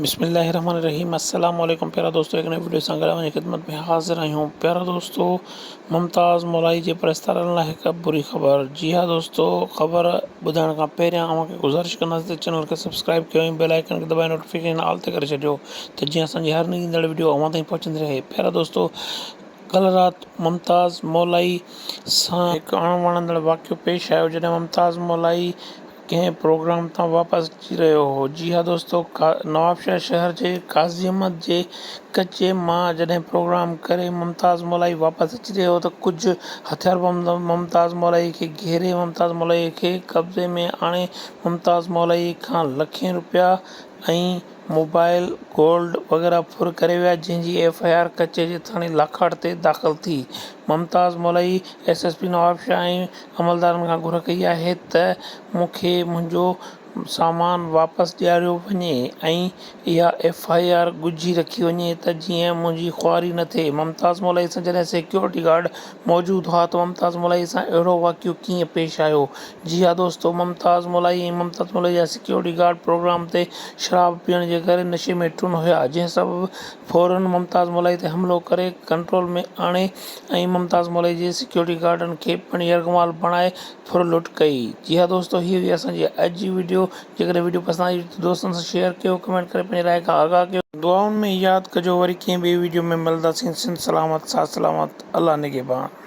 بسم الله الرحمٰن الرحيم السلام عليڪم پيارا دوستو هڪ نئين وڊيو سان گڏ اوهان جي خدمت ۾ حاضر آهيون پيارا دوستو ممتاز مولائي جي پرستارن لاء هڪ بري خبر جي ها دوستو خبر ٻڌائڻ کان پهريان اوهان کي گذارش ڪنداسين ته چينل کي سبسڪرائب ڪيو ۽ بيل آئيڪن کي دٻائي نوٽيفڪيشن آل تي ڪري ڇڏيو ته جيئن اسان جي هر نئين ايندڙ وڊيو اوهان تائين پهچندي رهي پيارا دوستو ڪلهه رات ممتاز مولائي سان هڪ اڻ وڻندڙ واقعو پيش آيو جڏهن ممتاز مولائي ڪنهن پروگرام تان واپس اچي رهيو هو. جي ها دوستو، نوابشاهه شهر جي قاضي احمد جي ڪچي مان جڏهن پروگرام ڪري ممتاز مولائي واپس اچي رهيو هو ته ڪجهه هٿياربند ممتاز مولائي کي گهيري ممتاز مولائي کي قبضي ۾ آڻي ممتاز مولائي کان لکين روپيا ۽ موبائل، گولڊ وغيره ڦر ڪري ويا جنهن جي ايف آء آر ڪچهري ٿاڻي لاکاٽ تي داخل ٿي. Mumtaz Molai S S P Nawabshah ۽ عملدارن کان گهر ڪئي آهي ته مون کي منهنجو سامان واپس ڏياريو وڃي ۽ اها ايف آء آر ڳجهي رکي وڃي ته جيئن منهنجي خواري نه ٿئي. ممتاز مولئي سان جڏهن سيڪيورٽي گارڊ موجود هئا ته ممتاز مولئي سان اهڙو واقعو ڪيئن پيش آيو جي ها دوستو، ممتاز مولائي ۽ ممتاز مولائي جا سيڪيورٽي گارڊ پروگرام تي شراب پيئڻ جي ڪري نشي ۾ ٽن هيا، جنهن سبب فورن ممتاز مولائي تي حملو ڪري ڪنٽرول ۾ آڻي ۽ ممتاز مولائي جي سيڪيورٽي گارڊن کي پڻ يرغمال بڻائي ڦر لٽ ڪئي. جي ها دوستو، هي هئي اسان جي اڄ جي وڊيو، جيڪڏهن وڊيو پسند آئي هجي ته دوستن سان شيئر ڪيو، ڪمينٽ ڪري پنهنجي راء کان آگاهه ڪيو. دعائن ۾ ياد ڪجو، وري ڪنهن ٻئي وڊيو ۾ ملنداسين، سنڌ سلامت، ساٿ سلامت، الله نگهبان.